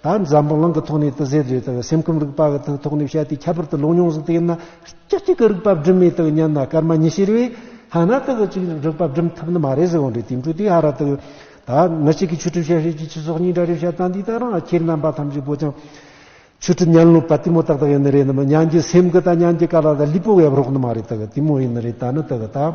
ད་འཛམ་བུ་གླིང་གི་ཐོག་ནས་ཏི་ཟེར་བརྗོད་ལྟ་བུའི་སེམས་ཁམས་རིག་པ་གི་ཐོག་ནས་བཤད་དེ་ཁྱད་པར་དུ་ལུང་མྱོང་གཟུགས་དེ་ཡིན་ན་ཅི་གཅིག་གི་རིག་པ་སྒྲིམ་མེད་དུ་ཉན་ན་སྐར་མ་ཉི་ཤེར་བས་ཧ་ན་ཏི་གི་གཅིག་གི་རིག་པ་སྒྲིམ་ཐུབ་ནི་མ་རེད་ཟེར་བ་འདྲའི་དེང་དུས་དེ་ཧ་ར་ཏི་ད་མི་གཅིག་གིས་ཆོས་གྲུབ་བཤད་ཤེས་ཀྱི་ཆོས་སོགས་གཉིས་འདྲ་རེད་བཤད་སྟངས་འདི་ལྟར་ན་ཁྱེད་རྣམ་པ་ཐམས་ཅད་པོ་ཅང་ཆོས་གྲུབ་སྙན་ལུགས་པ་དེ་མོ་ཏག་ཏག་ཡིན་ནི་རེད་ནི་མི་སྙན་གྱི་སེམས་ཀྱི་ད་སྙན་གྱི་ཀ་ལ་ད་ལུས་པོ་བས་རོགས་ནི་མ་རེད་ཏི་གི་དེ་མོ་ཡིན་ནི་རེད་ད་ནི་ཏི་གི་ད།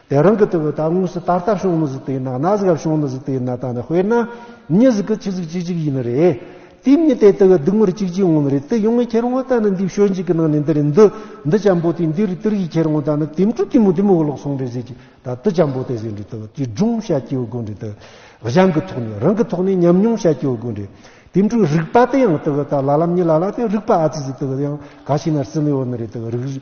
དེ་རང་གི་དུ་བུ་ད་དངོས་སུ་ད་ལྟ་བྱུང་ནི་ཟིག་དེ་ན་གནའ་ཟིག་བྱུང་ནི་ཟིག་དེ་ན་ད་ནི་དཔེར་ན་མྱི་ཟིག་གི་ཁྱི་ཟིག་གཅིག་གཅིག་ཡིན་ནི་རེད། དེའི་མྱི་དེ་དེ་གི་སྡུག་བསྔལ་གཅིག་གཅིག་འོང་ནི་རེད་དེ་ཡོང་ངས་ཁྱེར་འོང་ད་ནི་འདིའི་ཞོལ་འཇིག་གི་ནང་ནས་འདི་རེད་འདི་འདི་ཅམ་པོ་དེ་འདི་རེད་དེ་རེད་ཞེས་ཁྱེར་འོང་ད་ནི་དེ་མཁྲུ་དེ་མོ་དེ་མོ་ལོག་སོང་རེད་ཟེར་གྱི་ད་དུ་ཅམ་པོ་དེ་ཟེར་འདྲི་དུ་བུ་དེའི་སྒྲུང་བཤད་ཀྱི་ཡོད་དགོས་འདྲི་དུ་གཞན་གི་ཐོག་ནས་རང་གི་ཐོག་ནས་ཉམས་མྱོང་བཤད་ཀྱི་ཡོད་དགོས་འདྲི་དེ་མཁྲུ་རིག་པ་དེ་ཡང་དུ་བུ་ད་ལ་ལམ་མྱི་ལ་ལ་དེ་རིག་པ་ཨ་ཙི་ཙི་དུ་བུ་དེ་ཡང་ག་ཤེད་ན་རྩི་མི་ཡོད་ནི་རེད་དུ་བུ་རིག་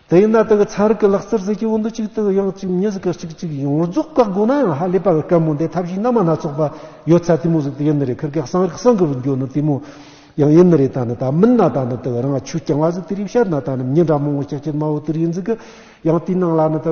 དེ་ཡིན་ན་དེ་གི་ཚན་རིག་གི་ལག་རྩལ་ཟེར་གྱི་བོད་འདི་གཅིག་དེ་གི་ཡང་གཅིག་མྱི་ཟེར་གི་གཅིག་གཅིག་ཡིན་ངོ་རྫོགས་བཀག་དགོས་ན་ཡང་ཧ་ལས་པ་གི་སྐད་མོ་འདི་ཐབས་ཤེས་རྣལ་མ་སྣ་ཚོགས་པ་ཡོད་ཚད་དེ་མོ་ཟིག་དེ་ཡིན་ནི་རེད་ཁིར་ཁེག་གསང་རིག་གསང་གི་བུ་འགྱོ་ནི་དེ་མོ་ཡང་ཡིན་ནི་རེད་ད་ནི་ད་མིན་ན་ད་ནི་དེ་གི་རང་ཆུ་རྐྱང་བ་ཟིག་དེ་རིག་བཤད་ན་ད་ནི་མྱི་འདྲ་མོ་ངོ་ཅག་ཅི་སྨྲ་བོ་དེ་རིག་ཡིན་ཟིག་གི་ཡང་དེའི་ནང་ལ་ནི་དེ་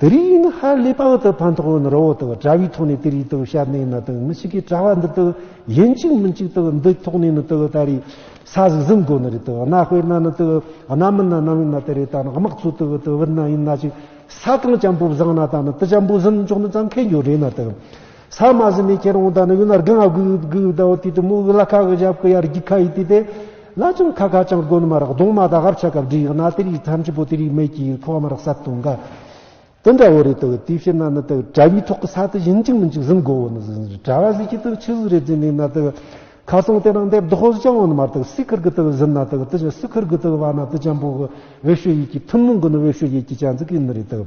དེ་རིང་ཡིན་ན་ཧ་ལས་པ་འོག་ཏུ་ཕན་ཐོགས་ཡོད་ན་རོ་འོག་ཏུ་དགྲ་བོའི་ཐོག་ནས་དེ་རིགས་དུ་བཤད་ནས་ན་དང་མི་ཞིག་གིས་གྲྭ་བ་འདི་དུ་ཡིན་གཅིག་མིན་གཅིག་དུ་འདི་ཐོག་ནས་ན་དུ་ད་རེས་ས་ཟིག་ཟིན་དགོས་ནི་རེད་དུ་གནའ་དཔེར་ན་ན་དུ་གནའ་མི་ན་ནམ་ཡིན་ན་དེ་རེས་ད་ན་དམག་ཚོ་དུ་དུ་བུད་ན་ཡིན་ན་ཅིག་ས་གང་བྱམས་པོ་བཟང་ན་ད་ན་དུ་བྱམས་པོ་ཟིན་ཆོག་ནི་ཙང་ཁེ་འགྱོ་རེད་ན་དུ། ས་མ་ཟི་མི་ཁྱེར་འོང་དང་ནི་ཡུལ་ལ་རྒན་ཨ་གུ་ཡུ་གུ་ཡུ་དའོ་དུས་དུ་མོ་དབུ་ལ་ཁ་གི་ཞབས་ཀི་ཡར་རྒྱུག་ཁ་ཡི་དུས་དེ། ལ་ཅུང་ཁ་ཁ་ཅང་གོན་མ་རག་གདོང་མ་དག་ཧབ་ཆ་གབ་འདྲི་ཡག་ན་དེ་རིགས་ཐམས་ཅད་པོ་དེ་རིགས་མེད་ཀྱི་ཡིན་ཁོ་བ་མ་རག་ས་དུང་ག། དུ་འདྲ་བོ་རེད་དུ་དུས་ཕྱི་ན་ནི་དུ་དྲ་བའི་ཐོག་གི་ས་དུ་བཞིན་གཅིག་མིན་གཅིག་ཟིན་གོ་བོ་ནི་ཟིན་ཟིན་དྲ་བ་ཟིག་གི་དུ་ཆུ་ཟིག་རེ་རྫི་ནི་ན་དུ། ཁ་ཚང་དེ་རང་འདེབས་དུ་ཧོ་ཟི་ཅང་བོ་ནི་མ་ར་དུ་སི་ཁུར་གི་དུ་ཟིན་ན་དུ་དུ་ཆུ་སི་ཁུར་གི་དུ་བ་ན་དུ་ཅང་པོ་གི་བེ་ཤུ་ཡིག་གི་ཐུན་མོང་གི་ནི་བེ་ཤུ་ཡིག་གི་ཅང་ཟིག་གི་ནི་རེད་དུ།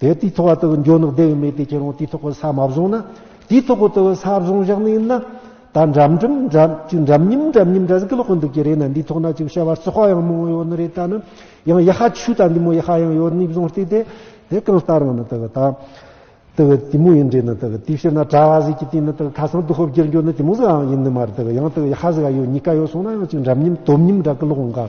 དེ་དུས་ཐོག་དེ་འཇོག་ནག་དེ་མེད་དེ་ཁྱེད་རང་དུས་ཐོག་ས་མ་བཟུང་ན་དུས་ཐོག་དེ་ས་བཟུང་བཞག་ནས་ན་ད་འགྲམ་འགྲམ་འགྲམ་ཅིག་འགྲམ་སྙིམ་འགྲམ་སྙིམ་འདྲ་ཟིག་ལོག་གི་འདུག་གི་རེད་ན་འདི་ཐོག་ན་ཅིག་བྱ་བ་རྩི་ཤོག་ཡང་མང་ཡོད་ནི་རེད་ད་ནི་ཡང་ཡ་ཧ་ཆུ་ད་འདི་མོ་ཡ་ཧ་ཡང་ཡོད་ནི་བཟུང་བལྟས་དེ་དེ་གང་ལྟར་ང་ནི་དེ་གི་ད་དེ་གི་དེ་མོ་ཡིན་འདྲས་ནི་དེ་གི་དུས་ཕྱིར་ན་གྲ་བ་ཟིག་གི་དུས་ནི་དེ་གི་ཁ་སང་དུ་ཧོབ་བསྒྱུར་འགྱུར་ནི་དེ་མོ་ཟིག་ཨང་ཡིན་ནི་མ་རེད་དེ་གི་ཡང་དེ་གི་ཡ་ཧ་ཟིག་ཨ་ཡོད་གཉིས་ཀ་ཡོད་སོང་ན་ཡང་ཅིག་འགྲམ་སྙིམ་དོམ་སྙིམ་འདྲ་གི་ལོག་འགའ་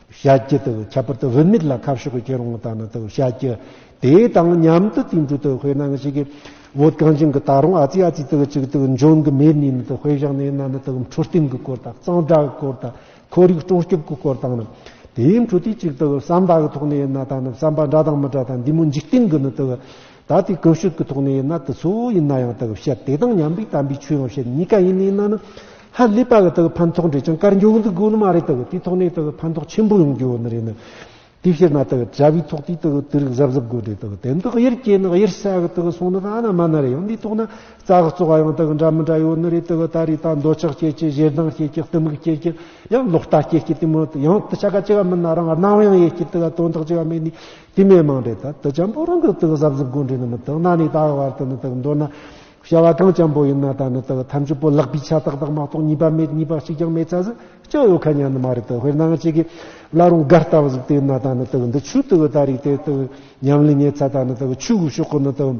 བྱ་རྒྱུ་དང་ཁྱད་པར་དུ་བུད་མེད་ལ་ཁ་ཕྱོགས་ཀྱི་ཁྱེད་རང་ལྟ་ན་དང་བྱ་རྒྱུ་དེ་དང་མཉམ་དུ་དུས་འགྲོ་དང་དཔེར་ན་ང་ཞིག་གིས་བོད་གངས་ཅན་གྱི་ད་རུང་ཨ་ཙི་ཨ་ཙི་དང་གཅིག་དང་འབྱུང་གི་མེད་ནུས་ན་དང་དཔེ་བཞག་ན་ཡིན་ན་ན་དང་འཕྲོད་བསྟེན་གྱི་སྐོར་དང་གཙང་སྦྲ་གི་སྐོར་དང་ཁོར་ཡུག་སྲུང་སྐྱོབ་ཀྱི་སྐོར་དང་ནི་དེའི་འཕྲོད་བསྟེན་གཅིག་དང་བསམ་པ་གི་ཐོག་ནས་ཡིན་ན་དང་ནི་བསམ་པ་འདྲ་དང་མི་འདྲ་དང་འདི་མོ་འཇིག་རྟེན་གྱི་ནི་དང། ད་ལྟའི་སྐུ་བཤུས་ཀྱི་ཐོག་ནས་ཡིན་ན་དེ་ཚོ་ཡིན་ན་ཡང་དག་བཤད་དེ་དང་མཉམ་པའི་དམ་པའི་ཆོས་ཡང་བཤད་གཉིས་ཀ་ཡིན་ནི་ཡིན་ན་ཧ་ལས་པ་གི་དག་ཕན་ཐོགས་འབྲས་ཀྱང་དཀར་འགྱུར་འདུག་དགོས་ནི་མ་རེད་དག་དེའི་ཐོག་ནས་དག་ཕན་ཐོགས་ཆེན་པོ་ཡོང་རྒྱུ་ནི་རེད་ནི། དེ་བཤད་ན་དག་བྱ་བའི་ཐོག་དེའི་དག་དུས་རིག་གཟབ་གཟབ་དགོས་འབྲས་དག་དེ་འདི་གཡེར་སྐྱེས་ནི་གཡེར་ས་གི་དག་སོང་ནི་ད་ན་མ་ན་རེ་ཡང་དེའི་ཐོག་ན་རྩ་གཙོ་བ་ཡང་དག་འདྲ་མི་འདྲ་ཡོད་ནི་རེད་དག་ད་རེས་ད་འདོད་ཆགས་སྐྱེས་ཀྱི་ཞེ་སྡང་སྐྱེས་ཀྱི་གཏི་མུག་སྐྱེས་ཀྱི་ཡང་ལོག་ལྟ་སྐྱེས་ཀྱི་དེ་མོད་ཡང་དུ་ཆ་ག་ཅི་ག་མིན་ན་རང་སྣང་ཡང་ཡེ་ཤེས་དག་དོན་དག་ཅི་ག་མེད་ནི། དེ་མེད་མང་འདྲེ་དག་དུ་ཅམ་པོ་རང་གི་དུག་གཟབ་གཟབ་གོ་འདྲེ་ནི་མི་དག་ན་ནི་དག་བར་དུ་ནི་དག་མདོར་ན། བྱ་བ་གང་ཅམ་པོ་ཡིན་ན་ད་ནི་དག་ཐམས་ཅད་པོ་ལག་པའི་ཆ་དག་དག་མ་གཏོགས་གཉིས་པ་མེད་གཉིས་པ་གཅིག་ཀྱང་མེད་ཚ་ཟིག་ཅིག་ཡོད་ཁ་ཉན་ནི་མ་རེད་དུ་དཔེར་ན་ང་གཅིག་གིས་བླ་རུང་སྒར་ལྟ་བུ་ཟིག་དེ་ན་ད་ནི་དག་འདི་ཆུ་དག་ད་རིགས་དེ་དག་ཉམས་ལེན་ཉེ་ཚ་ད་ནི་དག་ཆུ་གུ་ཤོག་གུ་ནི་དག།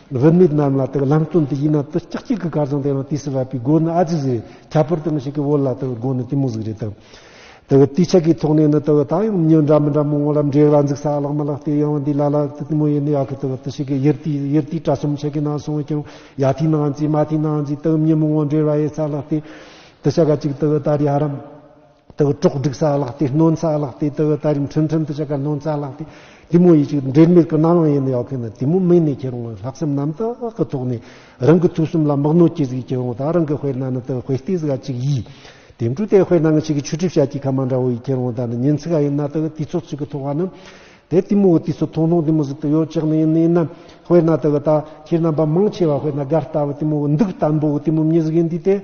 རིན་མེད་རྣམས་ལ་དང་ལམ་སྟོན་དུ་ཡིན་ན་དུ་ལྕགས་གཅིག་གི་སྐར་ཚང་དེ་ཡང་དུས་སུ་བབས་པའི་སྒོ་ནི་ཨ་ཙི་ཟིག་རེད་ཁྱད་པར་དུ་མི་ཞིག་གི་བོད་ལྭ་དང་སྒོ་ནི་གཏི་མུག་ཟིག་རེད་དམ། དུ་དུས་ཆད་ཀྱི་ཐོག་ནས་ནི་དུ་ད་ཡང་མྱུར་འདྲ་མི་འདྲ་མང་བོ་ལ་འབྲེག་ལ་འཛུགས་ས་བརླག་མ་བརླག་དེ་ཡང་བ་འདི་ལ་ལ་གཏི་མུག་ཡིན་ནི་ཡག་གི་དུ་བ་དུ་ཞིག་གི་ཡིར་དུས་ཡིར་དུས་དྲ་གསུམ་ཆད་ཀྱི་ནང་སོང་ཀྱང་ཡ་དུས་ནང་རྩིས་མ་དུས་ནང་རྩིས་དུ་མྱུར་མང་བོ་འབྲེག་ལ་ཡེ་ས་བརླག་དེ་དུ་ཞག་ག་གཅིག་དུ་བ་ད་རེ་ཧ་རམ། དེ་གི་གྲོགས་སྒྲིག་ས་བཀླགས་ཏེ་གནོན་ས་བཀླགས་ཏེ་དེ་གི་ད་རིང་ཁྲིམས་ཁྲིམས་དུ་ཆེ་ག་གནོན་ས་བཀླགས་ཏེ་དེ་མོ་ཡིད་ཅིག་འབྲེལ་མེད་གི་རྣ་ལོང་ཡེ་ནས་ཡོག་གི་ནི་དེ་མོ་མིག་ནས་ཁྱེར་འོང་བའི་ལྷག་བསམ་རྣམ་དག་གི་ཐོག་ནས་རང་གི་ཐུགས་གསུམ་ལ་མག་ནོར་གྱིས་གཟིགས་ཀྱི་འོང་དག་རང་གི་དཔེར་ན་ནི་དེ་གི་དཔེ་སྟེ་གཟིགས་ག་ཅིག་ཡིས་དེ་འདྲུ་དེ་དཔེར་ན་ང་ཅིག་གི་ཆུ་གྲིབ་ཤ་གྱི་ཁ་མ་འདྲ་བོ་ཡིས་ཁྱེར་འོང་དག་ནི་ཉིན་ཚིག་ག་ཡིན་ན་དེ་གི་དུས་ཚོད་ཅིག་གི་ཐོག་ག་ནི་དེ་དེ་མོ་གི་དུས་ཚོད་ཐུང་ཐུང་དེ་མོ་ཟིག་ཏུ་ཡོད་ཅིག་ནི་ཡིན་ནི་ཡིན་ན་དཔེར་ན་དེ་གི་ད་ཁྱེད་རྣམ་པ་མང་ཆེ་བ་དཔེར་ན་དགའ་ལྟ་བུ་དེ་མོ་གི་འདུག་ལྟ་འབུ་གི་དེ་མོ་མྱི་ཟིག་ཡིན་དུས་དེ།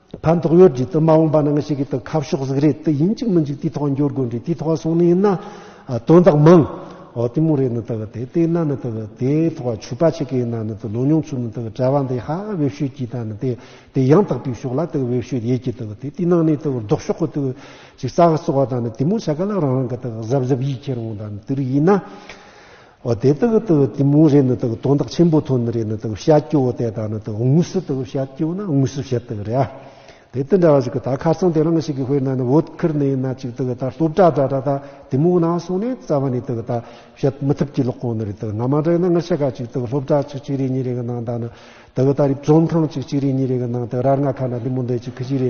ཕན་ཐོགས་ཡོད་རྒྱུ་དུ་མ་འོངས་པ་ནང་ཞིག་གི་དུ་ཁ་ཕྱོགས་གཟིགས་རེད་དུ་ཡིན་གཅིག་མི་འཇུག་དུས་ཐོག་འགྱུར་དགོས་འདྲི་དུས་ཐོག་སོང་ནི་ཡིན་ན་དོན་དག་མང། འོ་དེ་མོ་རེད་ནི་དུ་དེ་དེ་ན་ནི་དུ་དེ་ཐོག་ཆུ་པ་ཆེ་གི་ཡིན་ན་ནི་དུ་ལོ་ཉུང་ཚུལ་ནི་དུ་གྲྭ་བ་འདི་ཧ་བེབས་ཤོད་ཀྱི་ད་ནི་དེ་དེ་ཡང་དག་པའི་ཕྱོགས་ལ་དུ་བེབས་ཤོད་ཡེད་ཀྱི་དུ་དེ་དེ་ནང་ནི་དུ་ལྡོག་ཕྱོགས་གི་དུ་ཅིག་ས་ག་བཙོག་བ་ད་ནི་དེ་མོ་ཆ་ག་ལ་རང་རང་གི་དུ་གཟབ་གཟབ་ཡིད་ཁྱེར་འོང་ད་ནི་དུ་རིགས་ཡིན་ན། འོ་དེ་དག་ཏུ་དེ་མོ་རེ་ནི་དག་དོན་དག་ཆེན་པོ་ཐོན་རེ་ནི་དག་བཤད་ཀྱི་འོ་དེ་དག་ནི་དག་དངོས་སུ་དག་བཤད་ཀྱི་འོ་ན་དངོས་སུ་བཤད་དག་རེ་ཨ། དེ་དེ་འདྲ་བ་ཞིག་གི་དག་ཁ་སང་དེ་རང་ཞིག་གི་དཔེར་ན་ནི་བོད་ཁུལ་ནས་ན་ཅིག་དག་ད་སློབ་གྲྭ་འདྲ་འདྲ་དག་དེ་མོ་ན་སོང་ནས་རྩ་བ་ནས་དག་ད་བཤད་མི་ཐུབ་ཀྱི་ལོག་གོང་ནི་རེ་དག་ན་མ་འདྲ་ན་ང་ཤ་ཁ་ཅིག་དག་སློབ་གྲྭ་ཆིག་གཅིག་རེ་གཉིས་རེ་གི་ནང་དག་ནི་དག་ད་རིབ་བཙོན་ཁང་ཆིག་གཅིག་རེ་གཉིས་རེ་གི་ནང་དག་རར་ང་ཁ་ན་དེ་མོ་འདི་ཅིག་གི་ཅིག་རེ་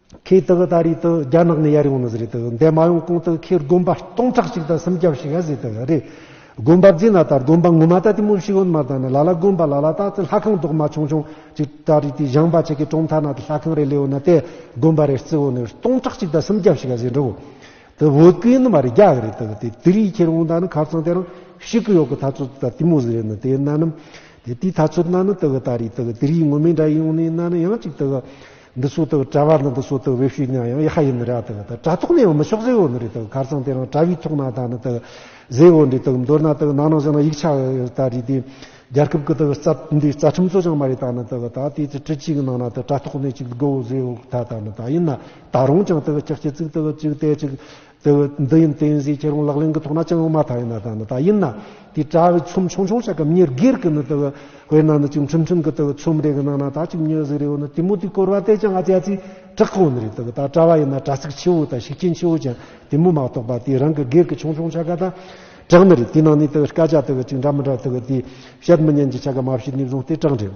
ཁོས་དེ་ག་ད་རེས་དེ་རྒྱ་ནག་ནས་ཡར་ཡོང་ནི་ཟེར་རེད་དེ་འདས་མ་ཡོང་གོང་དེ་ཁོས་དགོན་པ་སྟོང་ཕྲག་ཅིག་དང་སུམ་བརྒྱ་བྱིས་ཡ་ཟེར་དེ་རེད། དགོན་པ་རྫི་ན་ད་དགོན་པ་ངོ་མ་ད་དེ་མོ་ཤི་ཡོད་མ་ད་ནི་ལ་ལ་དགོན་པ་ལ་ལ་ད་དེ་ལྷ་ཁང་རྡོག་མ་ཆུང་ཆུང་ཅིག་ད་རེས་དེ་བཞེངས་པ་ཆེ་གེ་གྲོང་མཐའ་ན་དེ་ལྷ་ཁང་རེ་ལས་ཡོད་ན་དེ་དགོན་པ་རེ་རྩི་བོ་ནི་སྟོང་ཕྲག་ཅིག་ད་སུམ་བརྒྱ་བྱིས་ཡ་ཟེར་འགྲོ། དེ་བོད་སྐད་ཡིན་ནི་མ་རེད་རྒྱ་གི་རེད་དེ་ག་དེ་དེ་རེས་ཁྱེར་འོང་ད་ནི་ཁ་བཙང་དེ་རང་ཤི་གི་ཡོད་གི་ད་ཚོད་དེ་ད་དེ་མོ་ཟེར་ཡོད་ནི་དེ་ན་ནི་དེ་དེའི་ད་ཚོད་ན་ནི་དེ་ག་ད་རེས་དེ་ག་དེ་རེས་ངོ་མས་འདྲ་ཡོང་ནི་ན་ནི་ཡང་ཅིག་དེ་ག་འདི་སུ་དག་གྲྭ་བ་ནི་འདི་སུ་དག་བེ་ཤུས་ཉང་ཡང་ཡེ་ཧ་ཡིན་ནི་ར་དག་དག་གྲྭ་ཐོག་ནས་འོ་མི་ཤོག་ཟེ་འོ་ནི་རི་དག་གར་ཚང་དེ་རང་གྲྭ་བའི་ཐོག་ན་དག་ནི་དག་ཟེ་འོ་འདི་དག་མདོར་ན་དག་ནང་ནང་བཞིན་ན་ཡིག་ཆ་དག་རིགས་དེ་རྒྱལ་ཁབ་ཀི་དག་རྩ་འདི་རྩ་ཁྲིམས་གཙོ་ཆང་མ་རི་དག་ནི་དག་དག་དེ་ཚེ་ཁྲི་གཅིག་ནང་ན་དག་གྲྭ་ཐོག་ནས་ཅིག་དགུ་འོ་ཟེ་འོ་དག་དག་ནི་དག་ཡིན་ན་དག་རུང་ཅང་དག་ཅག་ཅི་ཚིག་དག་ཅིག་གཏད་ཅིག་དེ་བས་འདི་ཡིན་བསྟན་བྱའི་ཁྱད་རང་ལག་ལེན་གྱི་ཐོག་ན་ཅང་ཡང་མ་མཐའ་ཡིན་ན་ད་ནི་ད་ཡིན་ན་དེ་དྲ་བའི་ཚོམས་ཆུང་ཆུང་བྱ་སྐབས་ཉེར་སྒེར་གྱི་ནི་དེ་བས་དཔེར་ན་ནི་ཅིག་འཕྲིན་ཕྲན་གྱི་དེ་བས་ཚོམས་རེ་གི་ནང་ན་ད་ཅིག་མྱོས་ཟེར་རེ་བ་ནི་དེ་མོ་དེ་བསྐོར་བ་དེ་ཅང་ཨ་ཅག་ཚིག་གྲགས་གང་ནི་རེད་དེ་བས་ད་དྲ་བ་ཡིན་ན་དྲ་ཚིགས་ཆེ་བོ་དང་ཤུགས་རྐྱེན་ཆེ་བོ་ཅང་དེ་མོ་མ་གཏོགས་པ་དེ་རང་གི་སྒེར་གྱི་ཆུང་ཆུང་བྱ་དགའ་དང་གྲགས་ནི་རེད་དེའི་ནང་ནས་དེ་བས་སྐད་ཆ་དེ་བས་ཅིག་འདྲ་མི་འདྲ་དེ་བས་དེ་བཤད་མི་ཉན་གྱི་བྱ་དགའ་མ་བྱས་ནས་བཟུང་སྟེ་གྲགས་འགྲེལ།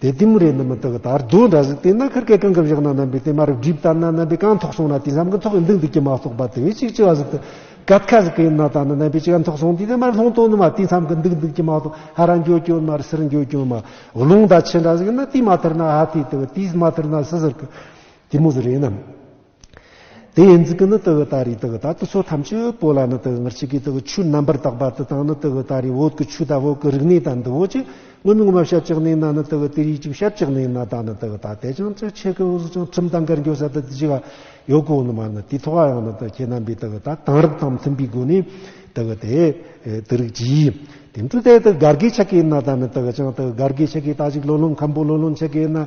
དེ་ལྟས་མོ་རེད་ནི་མི་དག་དར་རྡོ་འདྲ་ཟིག་དེ་ན་ཁར་སྐད་གང་གི་བཞག་ན་རྣམ་པའི་དེ་མ་རབ་སྒྲིབ་ལྟར་ན་རྣམ་པའི་གང་ཐོག་སོང་ན་དེ་བསམ་གི་ཐོག་གི་མདུང་དེ་ཀྱི་མ་གཏོགས་པ་དེ་བས་ཅིག་ཅི་བ་ཟིག་དུ་གད་ཁ་ཟིག་གི་ཡིན་ན་ད་ནི་རྣམ་པའི་ཅི་གང་ཐོག་སོང་དེ་དེ་མར་ལྷོང་དོ་ནི་མ་དེ་བསམ་གི་མདུག་མདུག་ཀྱི་མ་གཏོགས་ཧ་ར་འགྱོ་གྱོ་མར་སིར་འགྱོ་གྱོ་མ་རླུང་ད་ཆེ་འདྲ་ཟིག་ཡིན་ན་དེ་མ་ཐར་ན་ཧ་དེ་དེ་བ་དེས་མ་ཐར་ན་སི་ཟིར་གི་དེ་མོ་ཟི་རེད་ནམ། དེ་ཡི་འཛི་གི་ནི་དེ་ཨི་ད་རི་དེ་ཨི་ད་དུ་ཚོ་ཐམས་ཅད་པོ་ལ་ནི་དེ་ཨི་ངར་ཆི་གི་དེ་ཨི་ཆུ་རྣམ་པར་དག་པ་དེ་དང་ནི་དེ་ཨི་ད་རི་འོད་ཀི་ཆུ་དག་འོད་ཀི་རིག་ནི་ད་འདི་འོད་ཅིག་སྔོན་མི་ངོ་མ་ཞབས་ཅིག་ནི་ན་ནི་དེ་ཨི་དེ་རི་ཅིག་ཞབས་ཅིག་ནི་ན་ད་ནི་དེ་ཨི་ད་དེ་ཅང་ཅི་ཆེ་གི་འོད་ཟེར་ཅང་ཁྲིམས་དང་གར་འགྱོ་ས་དེ་དེ་ཅི་ག་ཡོ་གོ་ནི་མ་ནི་དེ་ཐོ་ག་ཡང་ནི་དེ་ཁྱེད་རྣམ་པའི་དེ་ཨི་ད་དང་རིགས་དང་མཐུན་པའི་སྒོ་ནས་དེ་ཨི་དེ་དེ་རིགས་ཀྱི་དེ་འཕྲུལ་དེ་དེ་གར་གི་ཆ་གི་ན་ད་ནི་དེ་ཨི་ཅང་དེ་གར་གི་ཆ་གི་ད་ཅིག་ལོ་ལོང་ཁམ་པོ་ལོ་ལོང་ཆ་གི་ན།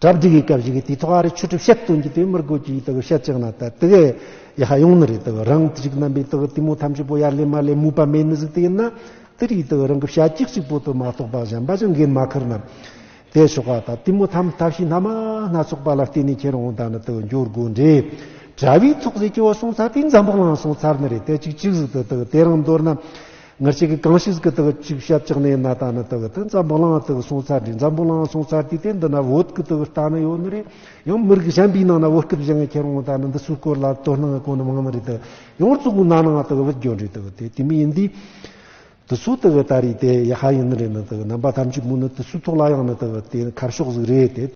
གྲ་བསྒྲིགས་ཡི་ག་བཞི་གི་དུས་ཐོག་ཨ་རི་ཆོས་གྲུབ་བཤད་སྟོན་གྱི་དུས་མིར་དགོས་ཀྱི་དག་བཤད་ཅིག་ན་ད་དི་གའི་ཡི་ཧ་ཡོང་ནི་རེད་དག་རང་དི་གཅིག་རྣམ་པའི་དག་དུས་མོ་ཐམས་ཅད་པོ་ཡར་ལེ་མར་ལེ་མུས་པ་མེད་ནི་གཟིགས་དེ་ཡིན་ན་དི་རིགས་དག་རང་གི་བྱ་གཅིག་གཅིག་པོ་དུ་མ་གཏོགས་པ་གཞན་པ་ཅང་འགན་མ་ཁུར་ན་དེ་ཆོག་ག་ད་དུས་མོ་ཐམས་ཐབས་ཤེས་སྣ་མ་སྣ་ཚོགས་པ་ལ་བརྟེན་ནི་ཁྱེད་རང་ད་ནི་དག་འགྱོར་དགོས་འདྲེ་གྲ་བའི་ཚོགས་ཟེར་གྱི་བ་སོང་ཚར་དུས་འཛམ་བུ་གླང་སོང་ཚར་ནི་རེད་དེ་གཅིག་གཅིག་གཟིགས་དུ་དག་དེ་རང་འདོར་ན། ངར་ཅིག་གིས་གང་ཞིག་གི་དག་ཅིག་ཞབས་ཀྱང་ནས་ན་ད་ནི་དག་ཏི་འཛམ་བུ་ལང་དག་སོང་ཚར་དྲི་འཛམ་བུ་ལང་སོང་ཚར་དུས་དེ་འདི་ན་བོད་ཀི་དག་རྟ་ནི་ཡོད་ནི་རེད་ཡང་མི་རིགས་གཞན་པའི་ནང་ན་བོད་སྐད་བཞི་ངས་ཁྱེར་འོང་ད་ནི་འདི་སུའི་སྐོར་ལ་དོ་སྣང་གོ་ནི་མང་ནི་རེད་དེ་ཡང་གཙུག་གུ་ན་ནང་དག་བུད་གྱོད་རེད་དག་དེ་དུས་མི་ཡིན་དུས་དུ་སུ་དག་ད་རེད་དེ་ཡ་ཧ་ཡིན་ནི་རེད་ནི་དག་རྣམ་པ་ཐམས་ཅད་མུ་ནི་དུས་སུ་ཐོག་ལ་ཡང་ནི་དག་དེ་ནི་ཁ་ཕྱོགས་ཟིག་རེད་དེ།